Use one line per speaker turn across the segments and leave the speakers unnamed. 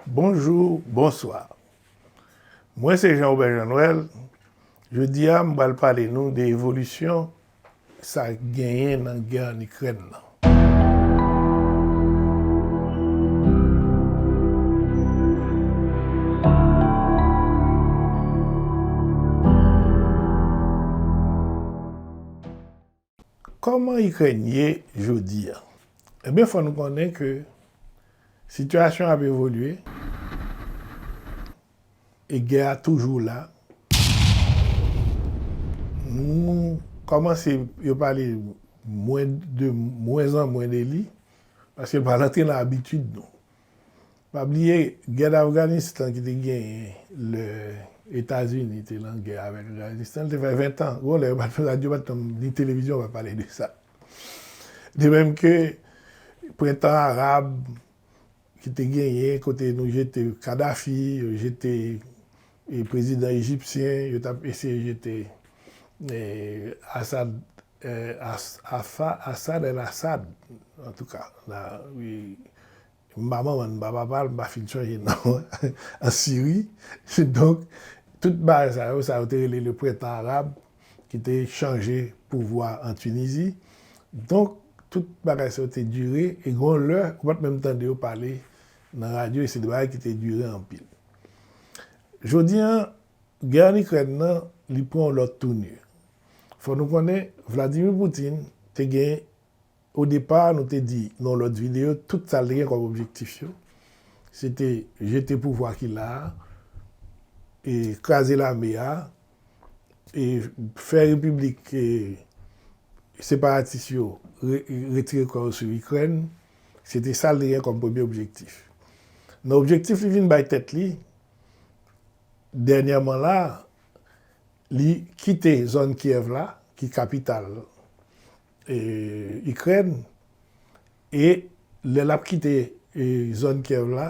Bonjour bonsoir mwen se Jean Robert Jean Noël jodi a m pral pale nou de evolisyon sa k genyen nan gè an ikrèn nan. Kòman Ikrèn ye jodi a? Ebyen fò nou konnen ke sitiyasyon an ap evolye e gè a toujou la. Nou kòmanse yo pale mwen de mwenzanmwen de li paske l pral antre nan abitid nou. Pa bliye gè d'Afganistan ki te genyen lè Etazini te nan gè avèk Afganistan, li te fè 20 tan. Gon lè yo pa t, radyo pa t nan, ni televizyon pa pale de sa. De menm ke prentan arab ki te genyen kote nou jete Kadafi, yo jete prezidan ejipsyen, yo t ap eseye jete Assad Asa Asad el Asad antouka la wi m pa manman l m pa papa l m pa fin chanje non an an Siri donk tout bagay sa yo sa yo te rele le prentan arab ki te chanje pouvwa an Tinizi donk tout bagay sa yo te dire e gon lè ou pat menm tande yo pale nan radyo e se de bagay ki te dire anpil jodi an gè an Ikrèn nan li pran yon lòt tounir. Fò nou konnen Vladimir Putin te gen o depa nou te di nan yon lòt video tout sa li te gen kòm objektif yo se te jete pouvwa ki la a e kraze lame a e fè repiblik separatis yo retire kò yo sou Ikrèn se te sa li te gen kòm premye objektif. Nan objektif li vin bay tèt li dènyèman la a Li kite zòn Kyèv la, ki kapital Ikrèn, e lè l ap kite zòn Kyèv la,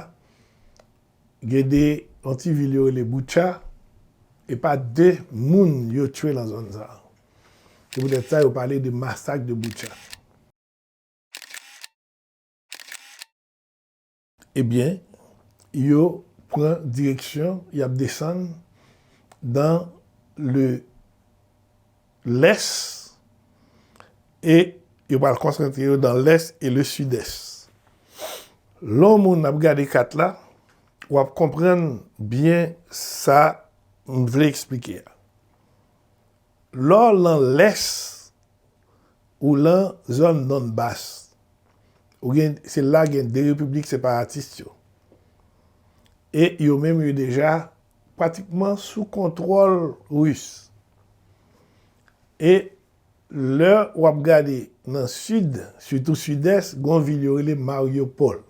gen 2 yon ti vil yo rele Bucha, e pa 2 moun yo tchwe nan zòn sa a. Se poutèt sa yo pale de masak de Bucha. Ebyen, yo pran direksyon, y ap desann dan le lès e yo pral konsantre yo dan lès e le sidès. Lè w moun ap gade kat la, w ap konprann byen sa m vle eksplike a. Lè w lan lès, Ou lan zòn non bas. Ou gen se la gen 2 repiblik separatis yo. E yo menm yo deja pratikman sou kontwòl ris. E lè w ap gade nan sid, sitou sidès, gen yon vil yo rele Mariupol.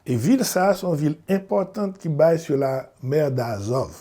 E vil sa a se yon vil enpòtan ki bay sou la mer d'Azov.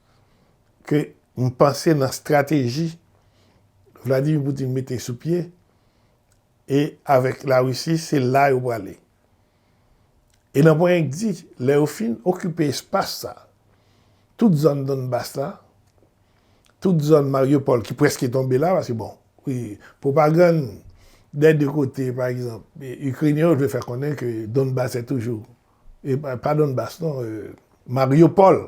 ke m panse nan strateji Vladimir Putin mete sou pye e avèk la Russie se la yo prale. E nan pwen k di lè yo fin okipe espas sa, tout zòn Donbas la, tout zòn Mariupol ki preske tonbe la, paske bon, pwopagann dè 2 kote pa egzanp Ikrenyen yo vle fè konnen ke Donbas se toujou, pa Donbas non, Mariupol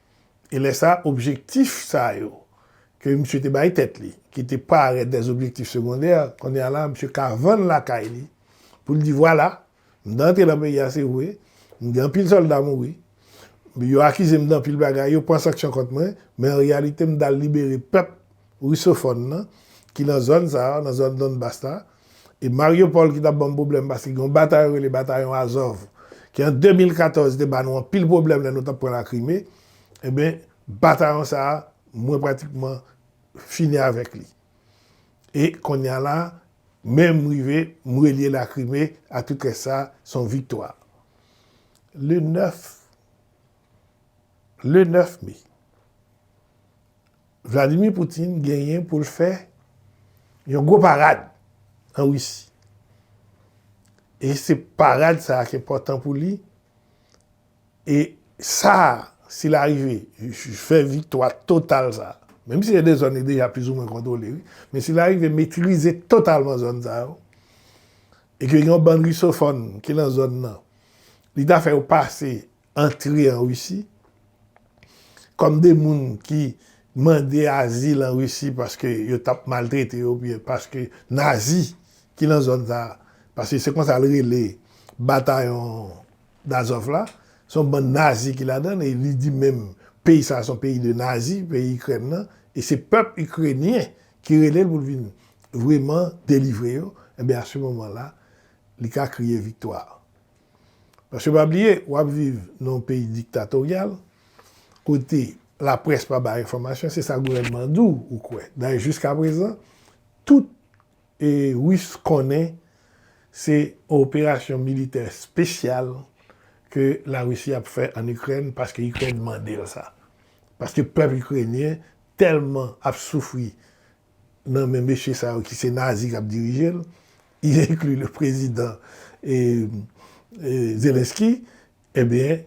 E lè sa a, objektif sa yo ke misye te bay tèt li, ki te parèt des objectifs secondaires, kounye a la misye ka vann lakay li pou l di vwala, m te antre nan peyi a se vre, m gen anpil sòlda mouri, yo akize m danpil bagay, yo pran sanksyon kont mwen, men an reyalite m t al libere pèp. Rusofòn nan, ki nan zòn sa a, nan zòn Donbas la, e Mariupol ki t ap ban m pwoblèm paske gen yon batayon rele batayon Azov ki an 2014 te ba nou anpil pwoblèm lè nou t ap pran Lakrime, enben, batayon sa a, mwen pratikman fini avèk li. E kounye a la, men m rive, m relye Lakrime a tout rès sa a, s on viktwa. Le 9, le 9 me, Vladimir Poutine genyen pou l fè yon gwo parad an Risi. E se parad sa a ki enpòtan pou li. E sa a, si l arive fè viktwa total sa a, menm si gen de zòn li deja plizoumwen kontwole wi, men si l arive metrize totalman zòn sa yo, e ke gen yon bann risofòn ki lan zòn nan, li ta fè yo pase antre an Risi, kòm de moun ki mande azil an Risi paske yo t ap maltrete yo oubyen paske Nazi ki nan zòn sa a, paske se konsa l rele batayon dAzov la, se yon bann Nazi ki ladan l e li di menm peyi sa a se yon peyi de Nazi, peyi Ikrèn nan, e se pèp Ikrenyen ki rele l pou l vin vreman delivre yo, enben a se moman la li ka kriye viktwa. Paske pa bliye, w ap viv nan yon peyi diktatoryal, kote laprès pa bay enfòmasyon, se sa gouvènman an di w, ou kwè. Dayè jiskaprezan, tout Ris konnen se yon operasyon militè espesyal ke Larisi ap fè ann Ikrèn paske Ikrèn mande l sa. Paske pèp ikrenyen tèlman ap soufri nan men mesye sa yo ki se nazi k ap dirije l, y enkli le prezidan Zelensky, ebyen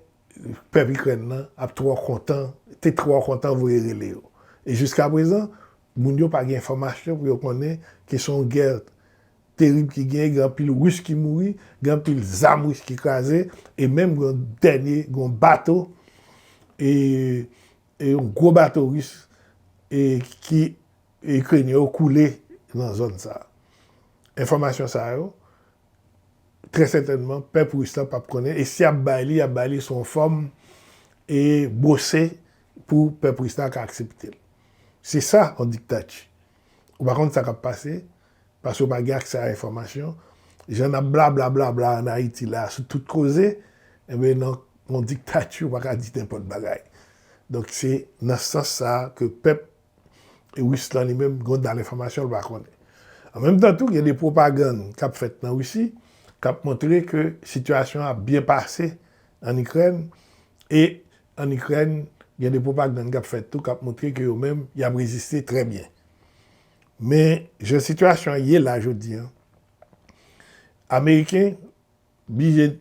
pèp Ikrèn nan ap twò kontan, te twò kontan voye rele yo. E jiskaprezan, moun yo pa gen enfòmasyon pou yo konnen ke se yon gè terib ki genyen, gen anpil Ris ki mouri, gen anpil zam Ris ki kraze, e menm gen yon dènye, gen yon bato e. Yon gwo bato ris ki ikrenyen yo koule nan zòn sa. Enfòmasyon sa yo, trè sètènman pèp ris la pap konnen e si y ap bay li, y ap bay li sou yon fòm e bwose pou pèp ris la ka aksepte l. Se sa yon diktati. Ou pa konn sa k ap pase, paske ou pa gen aksè a enfòmasyon. Jan n ap blablablabla an Ayiti la a sou tout koze, enben nan yon diktati ou pa ka di nenpòt bagay. Donk se nan sans sa a ke pèp Ris lan li menm gen dal enfòmasyon l pa konnen. An menm tan tou gen de pwopagann k ap fèt nan Risi k ap montre ke sitiyasyon an ap byen pase ann Ikrèn e An Ikrèn, gen de pwopagann k ap fèt tou k ap montre ke yo menm y ap reziste trè byen. Men, jan sitiyasyon an ye la jodi an, Ameriken blije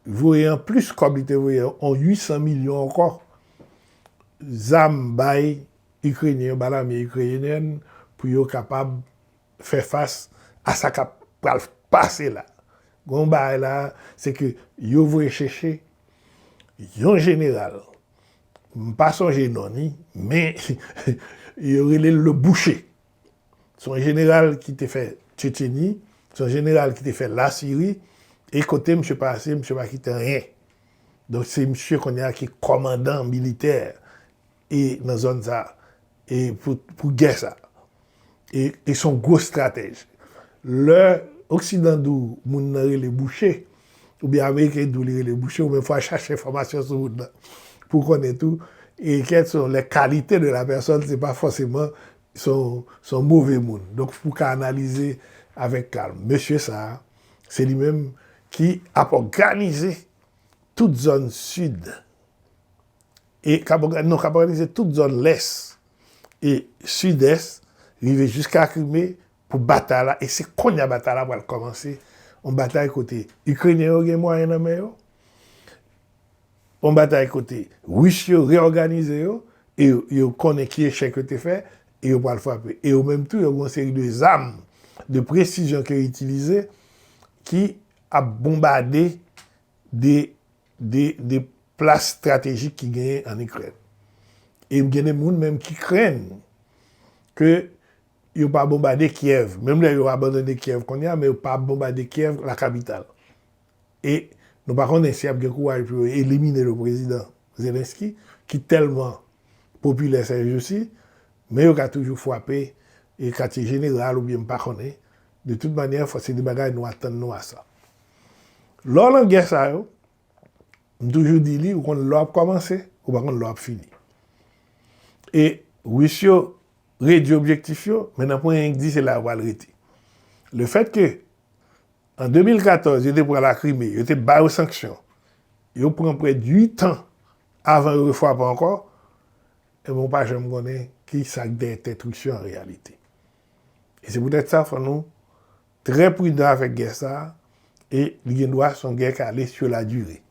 voye an plis kòb li te voye an, yon 800 milyon ankò zam bay Ikrenyen yo, bay lame Ikreyenyèn pou yo kapab fè fas a sa kap pral pase la. Gen yon bagay la a, se ke yo voye chèche yon jeneral, m pa sonje non ni, men yo rele l le boucher. Se yon jeneral ki te fè Tchetcheni, se yon jeneral ki te fè Lasiri, e kote misye pase, misye pa kite anyen. Donk se misye kounye a ki kòmandan militè. e nan zòn sa e pou gè sa e e son gwo stratèj lè oksidan di w moun nan rele bouche ou byen ameriken di w li rele bouche ou menm fwa chache enfòmasyon sou moun nan pou w konnen tou e kèt son lè kalite de la pèsòn se pa fòseman son son move moun donk pou w ka analize avèk kalm mesye sa se li menm ki ap òganize tout zòn sid. e k ap òganize tout zòn lès e sidès rive jiska Krime pou batay la e se konnya batay la pral kòmanse, yon batay kote Ikrenyen yo gen mwayen nan men yo, yon batay kote Ris yo reyòganize yo e yo konnen ki echèk yo te fè e yo pral frape e yo menm tou yo gen yon seri de zam de presizyon ke yo itilize ki ap bonbade de de plas stratejik ki genyen an Ikrèn. E gen de moun menm ki krenn ke yo pa bonbade Kyèv, menm lè yo abandone Kyèv kounye a, men yo pa bonbade Kyèv, la kapital. E nou pa konnen si y ap gen kouraj pou yo elimine le prezidan Zelensky, ki tèlman popilè sèjousi, men yo ka toujou fwape katye jeneral oubyen m pa konnen, De tout manyè, fò se de bagay nou atann nou a sa. Lò lan gè sa yo, m toujou di li, ou konn lè w ap kòmanse, ou pa konn lè w ap fini. E Ris yo redui objektif yo, men nan pwen enk di se la yo pral rete. Le fèt ke an 2014 yo te pran la Krime, yo te ba yo sanksyon, yo pran prè de 8 an avan yo refwape ankò, e ben ou pa janm konnen ki sa k dèyè tèt Ris yo an reyalite. E se poutèt sa fò nou trè pridan avèk gè sa a e li gen dwa son gè k ale sur la durée.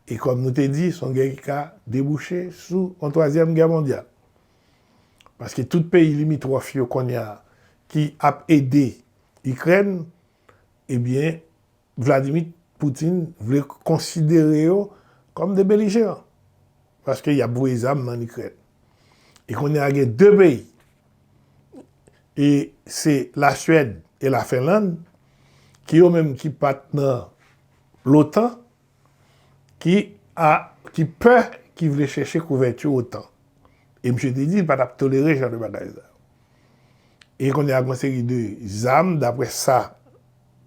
E kòm nou te di son gè ki ka debouche sou yon twazyèm gè mondyal. Paske tout peyi limitròf yo kounye a ki ap ede Ikrèn ebyen Vladimir Putin vle konsidere yo kòm de belijeran, paske y ap voye zam nan Ikrèn. E kounye a gen 2 peyi, e se la Suède e la Fenland, ki yo menm ki pa t nan lotan, ki a, ki pè, ki vle chèche kouvèti otan. E misye te di li pa t ap tolere jan de bagay sa yo. E kounye a gen yon seri de zam, daprè sa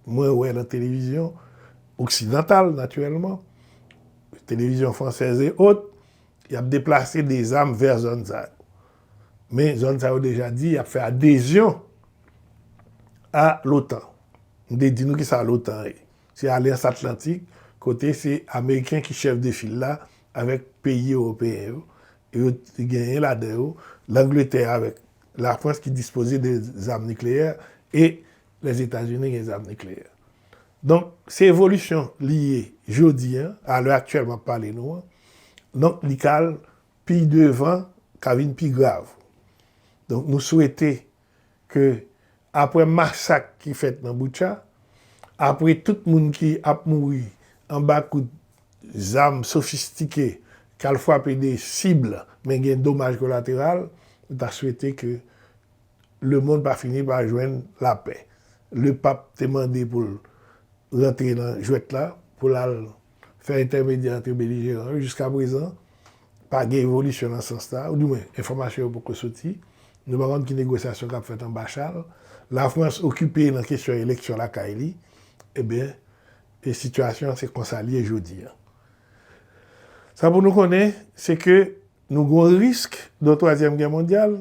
mwen wè nan televizyon oksidantal natirèlman, televizyon fransèz e ot, y ap deplase de zam vè zòn sa yo. Men zòn sa yo deja di y ap fè adezyon a lotan. M te di nou ki sa lotan ye. Se alyans atlantik kote se ameriken ki chèf de fil la avèk peyi ewopeyen yo. Yo genyen ladan yo Langletè avèk Lafrans ki dispoze de zam nikleyè e Lèzetazini gen zam nikleyè. Donk, se evolisyon li ye jodi an, alè aktyèl m ap pale nou an. Donk, li ka al pi devan, ka vin pi grav. Donk, nou swete ke apre masak ki fèt nan Bucha, apre tout moun ki ap mouri anba kout zam sofistike k al frape de sib men gen domaj kolateral, nou ta swete ke Lemond pa fini pa jwenn lapè. Le pap te mande pou l rantre nan jwèt la, pou l al fè entèmedyè antre belijeran yo. Jiska prezan, pa gen evolisyon nan sans sa a, ou di mwen enfòmasyon yo poko soti. Nou pa konn ki negosyasyon k ap fèt anba chal. Lafrans okipe nan kesyon eleksyon lakay li. Ebyen, e sitiyasyon an se konsa l ye jodi a. Sa pou nou konnen, se ke nou gen yon risk de yon twazyèm gè mondyal,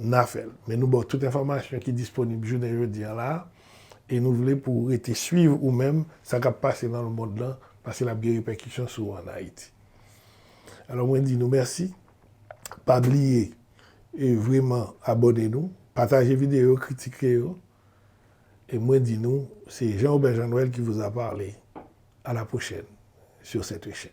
n a fè l. Men nou ba w tout enfòmasyon ki disponib jounen jodi an la a, e nou vle pou w rete swiv ou menm sa k ap pase nan lemond lan, paske l ap gen repèkisyon sou w an Ayiti. Alò mwen di nou mèsi, pa bliye e vreman abòne nou, pataje videyo yo, kritike yo, e mwen di nou se Jean Robert Jean Noël qui vous a parlé, à la prochaine sur cette chaîne.